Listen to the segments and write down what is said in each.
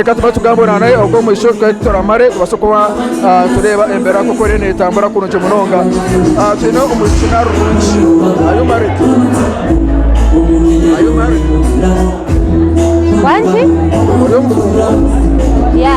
Reka tubanze tugambe Orara nawe ogw'omwisho twete turamare tubaase kuba ah, tureeba embera nk'oku eriyo neetambura kurungi munonga Ah, twine omwishiki narurungi ayo marite ayo marite Wangi? ori omukungu Ya.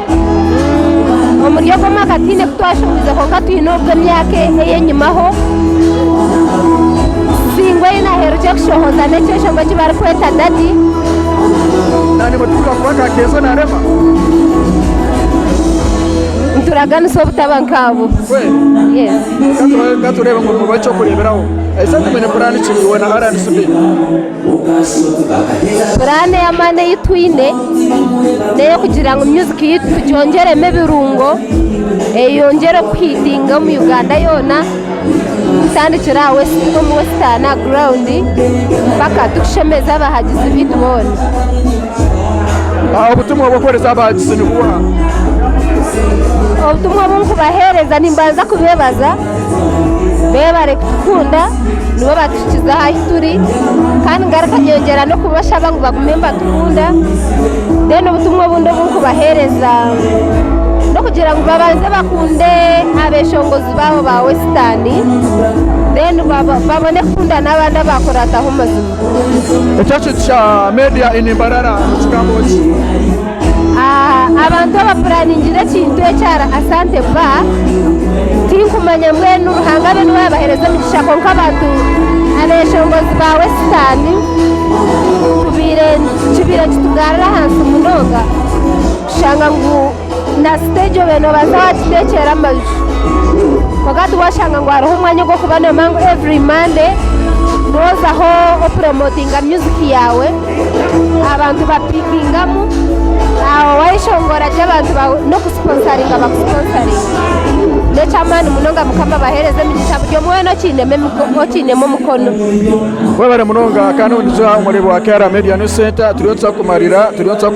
Omuri ogwo mwaka tihaine ku twashohoize kwonka twine ogw'emyaka ey'enyimaho. Singwe ei naherukire kushohoza n'ekyeshonga eki barikweta dadi. Naanimwe titubaasa kuba nka Kenzo na Rema? Nituraganisa obutaba nk'abo. Kweli? Yes. Ka tu- ka tureebe ngu mubahe eky'okureeberaho. Eishe tumanye kuraanikiriiwe na RNCB. Puraani ey'amaani ei twine n'ey'okugira ngu myuziki yaitu tugyongyeremu ebirungo, eyongyere kuhiitinga omu Uganda yoona, kutandikira aha omu wesitaani aha guraawundi mpaka turikushemeza abahagizi baitu boona. Obutumwa obu orikuheereza abahagizi ni buha? Obutumwa obu ndikubaheereza, nimbanza kubeebaza Beebo abarikukunda nibo batuhikize aha ahu turi kandi ngaruka nyongyera n'okubashaba ngu bagume nibatukunda. Reero obutumwa obundi obu ndikubaheereza n'okugira ngu babanze bakunde abeeshongozi baabo ba Wesitaani reero babone kukunda n'abandi abu baakuraataho mazima. Ekyakiiti kya Media in Mbarara nikigamba ki? Abantu abapuraningira ekintu eki ahari Asante Bar tinkumanya mbwenu Ruhanga abe niwe abahereza emigisha kwonka abantu abeshongozi ba wesitaani tubaire kibaire kitugarira ahansi munonga kushanga ngu na siteegi obaire nobaasa wakiteekyera amaju kwonka tiwashanga ngu hariho omwanya ogw'okuba noyema ngu every Monday nozaho opuromotinga muziki yaawe. abantu ba pikingamu aho wayeshongora ati abantu bawe nokusiponsaringa bakusiponsaringa nekyamaani munonga mukama abahereze emigisha buri omwe wena okinemu emiko- okinemu omukono webare munonga kandi obu nituza omuri bwa kra media news center turiyo nituza kumarira turiyo nituza kure